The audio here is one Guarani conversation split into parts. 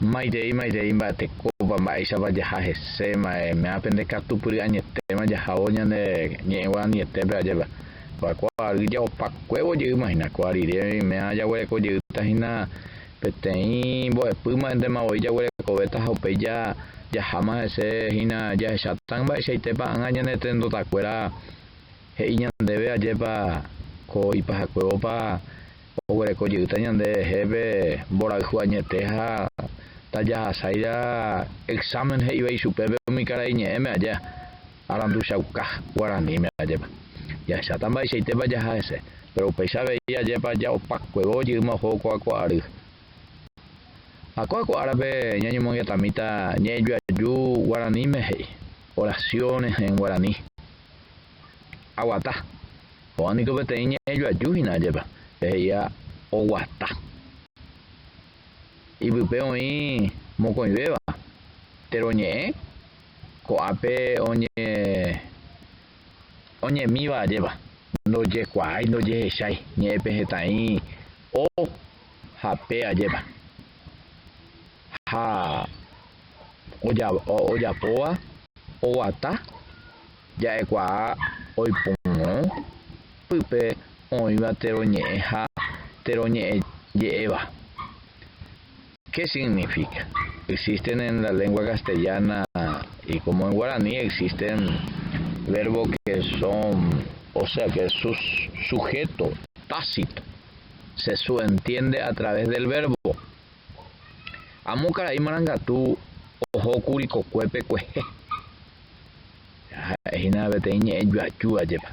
Maitei, maitei, mba'etekópa, mba'éichapa jaha hese, maeméa pende katupyry añetéma jahávo ñane ñe'ẽ guaraniietépe ajépa. Va'ekua ary jaopakuévo jeýma hína, ko arire oiméva jaguereko jeýta hína peteĩ mbo'epýma héntema voi jaguerekovéta ha upéi jaháma hese hína jahecháta mba'eichaitépa ág̃a ñane trendotakuéra he'i ñandéve ajépa ko ipahakuévopa oguereko jeýta ñande rehépe mborayhu añete ha tajahasáira examen he'íva ichupe pe umi karai ñe'ẽme aja aranduchauka guaraníme ajépa. Jahecháta mba'eichaitépa jaha hese, péro upéicha avei ajépa ja'opakuévo ojy'ýma oho ko'akua ary. Ha ko'akua árape ñañomongetamíta ñe'ẽjoaju guaraníme he'i, oración en guaraní. Aguata. Ko'ã niko peteĩ ñe'ẽjoaju hína ajépa, pe he'íva oguata. Ipype oĩ mokõivéva, tero ñe'ẽ, ko'ápe oñe, oñemíva ajépa, ndojekuaái, ndojehechái, ñe'ẽpe hetã'i o ha pe ajépa. Ha oja, ojapóva, oguata. Ja'ekuaa oipórõ pype oĩva térõ ñe'ẽ ha térõ ñe'ẽ je'éva. Ke signifika? Existen en la lengua castellana y como en guarani existen verbo que son, o sea que su sujeto tácito se suentiende a través del verbo. Amo karai marangatu oho kuri kokuépe kuehe Ha'e hína peteĩ ñe'ẽ juaju ajépa.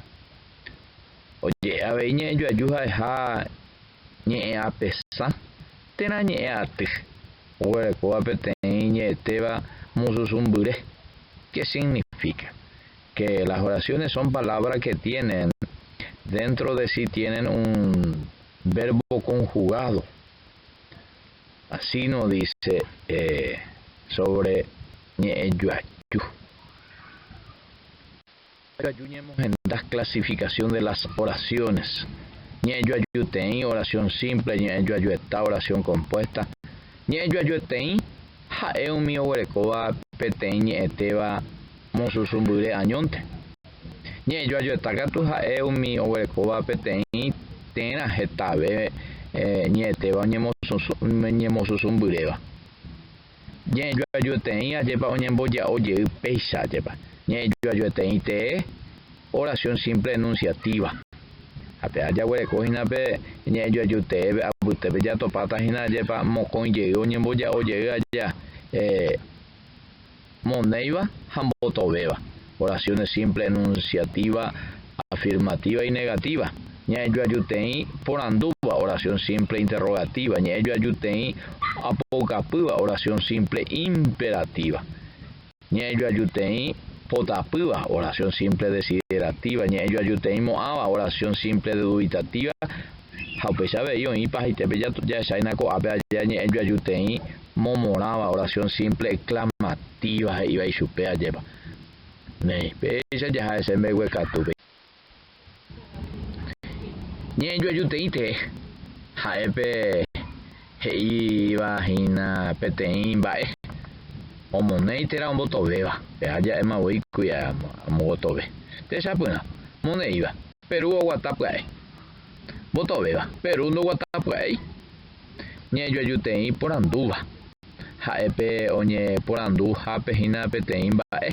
Oje'e avei ñe'ẽ juaju ha'eha ñe'ẽ apesã térã ñe'ẽ aty. Oguerekóva peteĩ ñe'ẽtéva mususu mbyre. Ke signifíka? Ke las oraciones son palabra ke tienen dentro de si tienen un verbo conjugado. Así no dice sobre ñe'ẽjoaju. Ikatu ñemohenda clasificación de las oraciones, ñe'ẽjoajuteĩ, oración simple, ñe'ẽjoajueta, oración compuesta. Ñe'ẽjoajueteĩ ha'e umi oguerekóva peteĩ ñe'ẽtéva mosusũmbyre añónte. Ñe'ẽjoajoeta katu ha'e umi oguerekóva peteĩ térã hetave ñe'ẽtéva oñemosusũmbyréva. Ñe'ẽjoajoeteĩ ajépa oñemboja'o jey péicha ajépa. Ñe'ẽjoajoeteĩ tee oración simple enunciativa. Ha pe ajaguereko hína pe ñe'ẽjoaju tee pe apytépe jatopáta hína ajépa mokõi jey oñemboja'o jey aja. monéiva ha mbotovéva, oraciones simple enunciativa, afirmativa y negativa, ña'ẽjoajuteĩ porandúva, oración simple interrogativa, ña'ẽjoajuteĩ apoukapýva, oración simple imperativa, ña'ẽjoajuteĩ potapýva, oración simple desiderativa, ña'ẽjoajuteĩ mo'ãva, oración simple duditativa, ha upéicha avei oĩpa haitépe jahecháina ko'ápe aja ñe'ẽjoajuteĩ momorãva oración simple exclamativa he'iva ichupe ajépa, néi, péicha jaha'ese mbeguekatúpe. Ñe'ẽjoajuteĩte ha'épe he'íva hína peteĩ mba'e omonéi térã ombotovéva, pe aja'éma voi kuia amogotove. Techapyrã, moneíva, Perú oguata pya'e. Mbotovéva, Perú ndoguata pya'éi. ñañejuajuteĩ porandúva. Ha'e pe oñeporanduhápe hína peteĩ mba'e,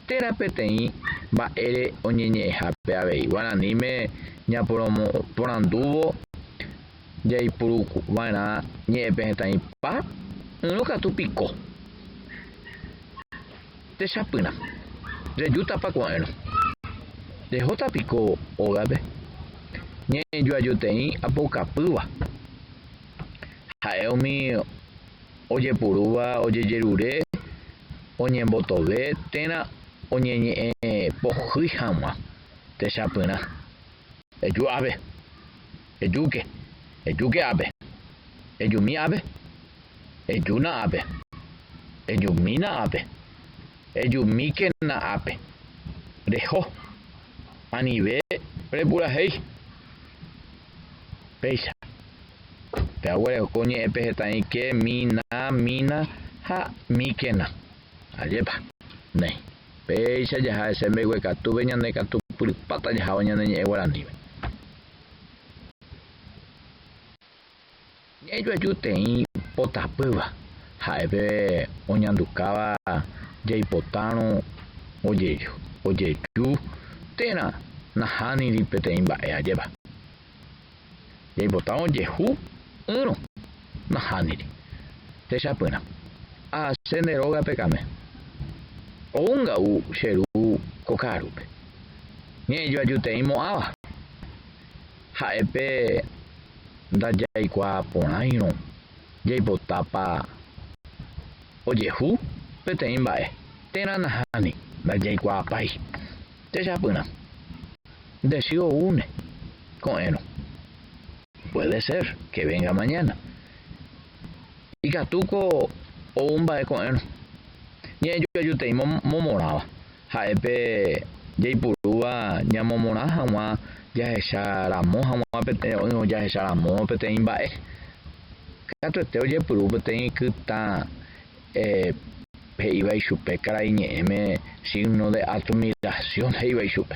térã peteĩ mba'ére oñeñe'ẽhápe avei. Guaraníme ñaporandúvo jaipuruva'erã ñe'ẽpehẽtaĩpa, ỹrõ katu piko. Techapyrã, rejútapa ko'ẽrõ? Rehóta piko ógape? Ñañejuajoteĩ apoukapýva. Ha'e umi ojepurúva ojejerure oñembotove térã oñeñe'ẽ pohýi hag̃ua. Techapyrã, eju ápe, ejúke, ejúke ápe, ejumi ápe, Ejúna ápe. Ejumína ápe. Ejumíkena ápe. Reho. Anive repurahéi. Péicha. Pehaguereko ko ñe'ẽpe hetaĩ ke, mi, na, mína ha míkena. Ajépa. Néi. Péicha jaha hese mbeguekatúpe ñanekatupyrypáta jahávo ñane ñe'ẽ guaranípe. Ñajoaju teĩ po tapýva, ha'épe oñandukáva jaipotárõ ojeju térã nahániri peteĩ mba'e ajéva. Jaipota ojehu ỹrõ, nahániri. Techapyrã, ahase nde rógape kame. Ou nga'u che ru ko ka'arúpe. Ñe'ẽjoaju teĩ mo'ãva. Ha'épe ndajaikuaa porãirõ jaipotápa ojehu peteĩ mba'e térã nahániri, ndajaikuaapái techapyrã. Nde sy oúne ko'ẽrõ. Puede ser que venga mañana. Ikatúko ou mba'e ko'ẽrõ. Ñe'ẽjoajutei momorãva. Ha'épe jaipurúva ñamomorã hag̃ua jahecha ramo hag̃ua jahecha ramo peteĩ mba'e. Katuete ojepuru peteĩ kytã he'íva ichupe karai ñe'ẽme signo de admiración he'íva ichupe.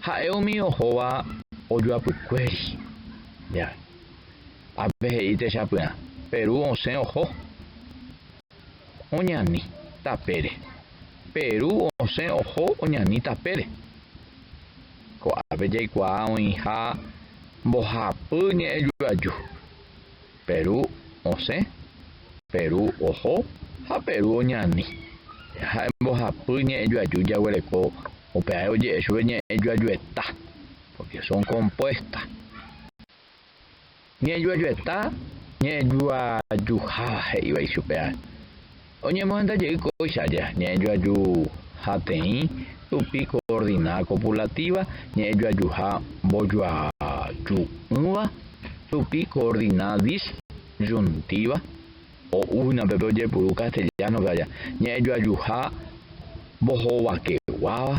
Ha'e umi ohóva ojoapykuéri ndive. Ha pe he'i techapyrã, pe ru osẽ oho, oñani tapére. Pe ru osẽ oho, oñani tapére. Ko'ápe jaikuaa oĩha mbohapy ñe'ẽjoaju, pe ru osẽ, pe ru oho ha pe ru oñani. Ha'e mbohapy ñe'ẽjoaju jaguereko Upéi ha'e oje'e chupe ñe'ẽjoajueta, pórke son kompuésta. Ñe'ẽjoajueta ñe'ẽjoajuháva he'íva ichupe ha'e. Oñemohenda jey kóicha aja ñe'ẽjoaju hateĩ rupi koordina kopulatíva ñe'ẽjoajuha mbojoaju'ỹva rupi koordina disyuntíva Ho'úhina upépe ojepuru castellano-pe aja ñe'ẽjoajuha mbohovakeguáva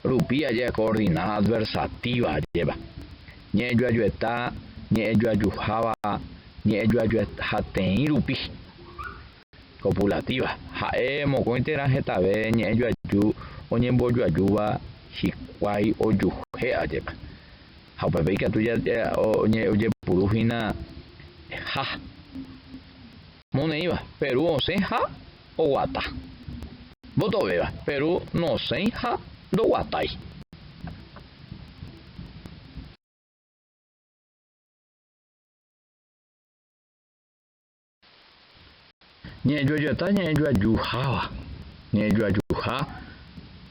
rupi aja coordinada adversativa ajépa. Ñe'ẽjoajueta ñe'ẽjoajuháva ñe'ẽjoajuhateĩ rupi, copulativa, ha'e mokõi térã hetave ñe'ẽjoaju oñembojoajúva hikuái ojuhe ajépa. Ha upépe ikatu ojepuru hína ha moneĩva Perú osẽ ha oguata, mbotovéva Perú nosẽi ha ndoguatái. Ñe'ẽjoajeta ñe'ẽjoajuháva, ñe'ẽjoajuha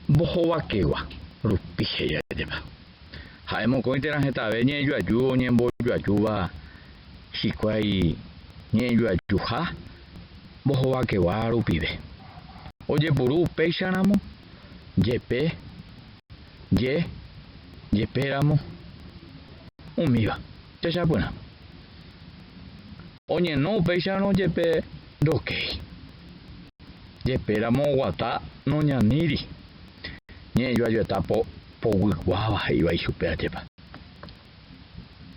mbohovakegua rupi he'i ajépa. Ha'e mokõi térã hetave ñe'ẽjoaju oñembojoajúva hikuái ñe'ẽjoajuha mbohovakegua rupive. Ojepuru upéicha ramo, jepe, je, jepe ramo, umíva. Techapyrã. Oñeno upéicharõ jepe ndokéi. Jepéramo oguata noñaníri. Ñe'ẽjoajoeta povykuáva he'íva ichupe ajépa.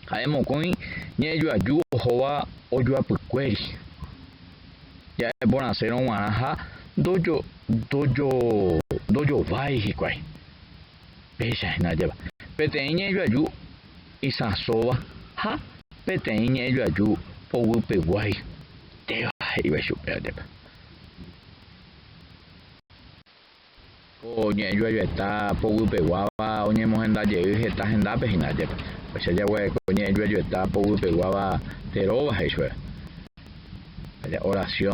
Ha'e mokõi ñe'ẽjoaju ohóva ojoapykuéri. Ja'e porãsérõ g̃uarã ha ndojovái hikuái. Péicha hína ajépa, peteĩ ñe'ẽ joaju isãsóva ha peteĩ ñe'ẽ joaju poguýpeguái téva he'íva ichupe ajépa. Ko ñe'ẽ joajoeta poguýpeguáva oñemohenda jey heta hendápe hína ajépa. Upéicha jagua'e ko ñe'ẽ joajoeta poguýpeguáva teróva he'i chupe. Jaja'e orasiõ.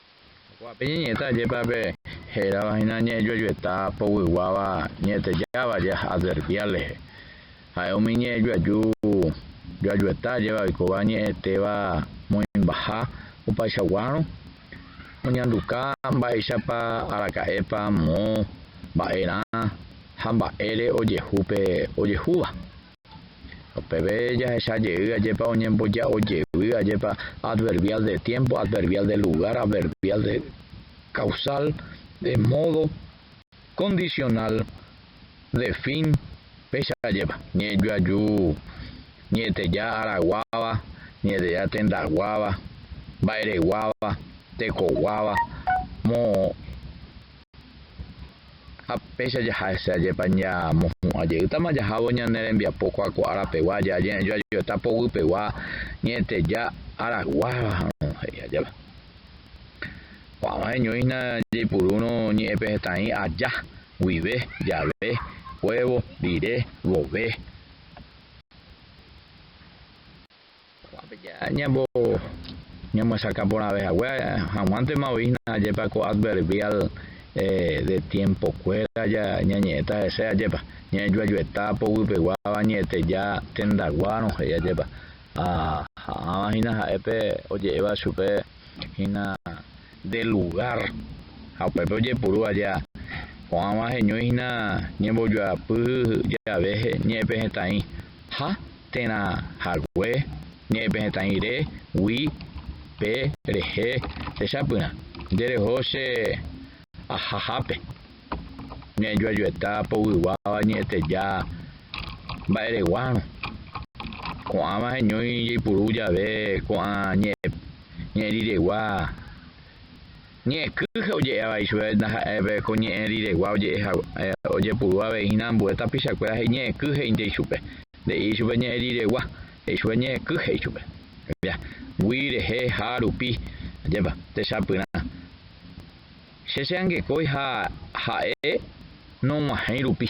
Oikuaa pe ñeñe'ẽta ajépa pe hérava hína ñe'ẽjuejueta poguyguáva ñe'ẽtejáva jey adverbial rehe. Ha'e umi ñe'ẽjueju joajueta ajéva oikóva ñe'ẽtéva moĩmbaha opaichaguárõ oñanduka mba'éichapa araka'épa moõ, mba'erã ha mba'ére ojehu pe ojehúva. Ha peve jahecha jey, ajépa oñemboja'o jey, ajépa adverbial de tiempo, adverbial de lugar, adverbial de causal, de modo, condicional, de fin, péicha ajépa, ñe'ẽjoaju, ñe'ẽteja araguáva, ñe'ẽteja tendaguáva, mba'ereguáva, tekoguáva, mo. Ha péicha jaha hese ajépa ñamohu'ã jeýtama jahávo ñane rembiapo kuaakuaa rapegua jajoajoeta poguýpegua ñe'ẽteja araguáva ha'arõ, he'i ajépa. Ko'ãva heñóihina jaipurúrõ ñe'ẽpe hetãi aja, guive, jave, huévo, rire, vove. Ko'ápe ñambo ñamyesakã porãve hague hag̃uántema voi hína ajépa ko adverbial de tiempo kuéra ñañe'ẽta hese ajépa, ñañejuajueta poguýpeguáva ñe'ẽteja tendaguárõ he'i ajépa. Ha ha'ãva hína ha'e pe oje'éva chupe hína. de lugár ha upépe ojepuru vaje ha ko'ãva heñói hína ñembojoapy jave ñe'ẽpehetãi ha térã hague ñe'ẽpehetãi re gui pe rehe techapyrã nde reho che ahahápe ña'ijoajueta povyguáva ñe'ẽteja mba'ereguárõ ko'ãva heñói jeipuru jave ko'ã ñe'ẽ Ñe'ẽ riregua. Ñe'ẽkýje oje'e avei chupe ndaha'éi pe ko ñe'ẽ riregua oje'e hague. Ojepuru avei hína ambue tapichakuéra he'i ñe'ẽky he'ínte ichupe. Nde'i ichupe ñe'ẽ riregua, he'i chupe ñe'ẽky he'i chupe. Mbya, gui, rehe, ha, rupi. Ajépa, techapyrã. Che che'angekói ha ha'e nog̃uahẽi rupi.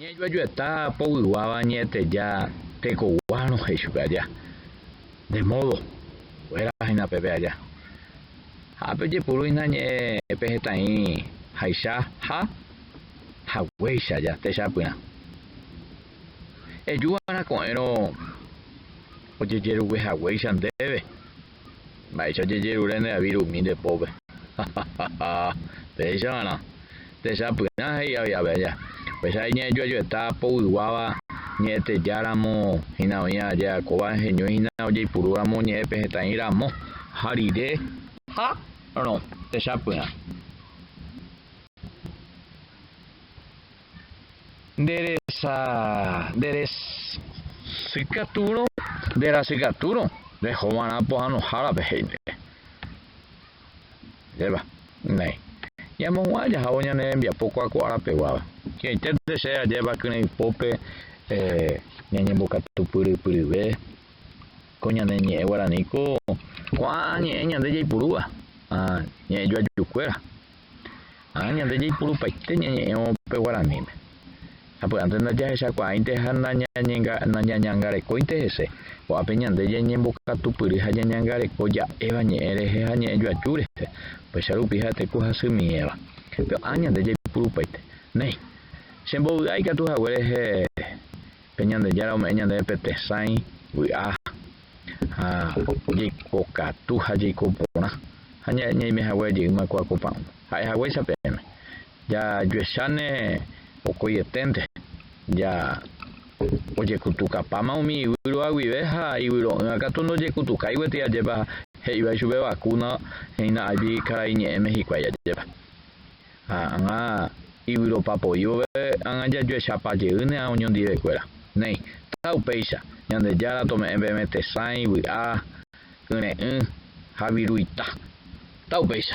Ñajoajueta povyguáva ñe'ẽteja tekoguárõ he'i chupe aja, Nde módo, kuéra hína pépe aja. Ha pejepuru hína ñe'ẽ pe hetã'i haicha ha haguéicha aja techapyrã. Eju va'erã ko'ẽrõ ojejerugue haguéicha ndéve. Mba'éicha jejerure ne avir umi nde pópe. Hahahha. Péicha va'erã. Techapyrã, he'i avei Abella. Upéicha avei ñanejuejueta povyguáva ñe'ẽteja ramo hína oĩ ajeakóva heñói hína ojeipuru ramo ñe'ẽpe hetã'i ramo ha rire ha rõ. Techapyrã. nderesa, nderesykatúrõ, nderasykatúrõ rehova'erã pohãnohárape he'ínteva. Ndépa, nay, ñamohu'ã jahávo ñane rembiapo kuakua'arapeguáva, ki'aiténte che ajépa kyrãi pópe ñañembokatupyrypyryve ko ñane ñe'ẽ guarani ko ko'ã ñe'ẽ ñande jaipurúva ñe'ẽjoajukuéra. Ha ñande jaipurupaite ñañe'ẽvo pe guaraníme. Sapy'ánte ndajahechakuaáinte ha ndañañangarekóinte hese, ko'ápe ñande jañembokatupyry ha jañangareko ja'éva ñe'ẽ rehe ha ñe'ẽjoaju rehe, upéicha rupi ha'ete ku hasymie'ẽva. Ko'ã ñande jaipurupaite. Néi, che mbovy'a ikatu hague rehe pe Ñandejára ome'ẽ ñandéve pe tesãi, vy'a. ha jaikokatu ha jaiko porã, ha ñaime hague jeýma ko akopa'ũ. Ha'e haguéicha peẽme, jajuecháne okoieténte, ja ojekutukapáma umi yvyro'a guive ha yvyro'ỹva katu ndojekutukái gueteri ajépa he'iva ichupe vakúna hína áipi karaiñe'ẽme hikuái ajépa. Ha ág̃a iguiropa poívope ág̃a jajuechapa jey ne ã oñondivekuéra. Néi, ta upéicha, Ñandejára tome'ẽ peẽme tesãi, vy'a, kyre'ỹ ha viru ita. Ta upéicha.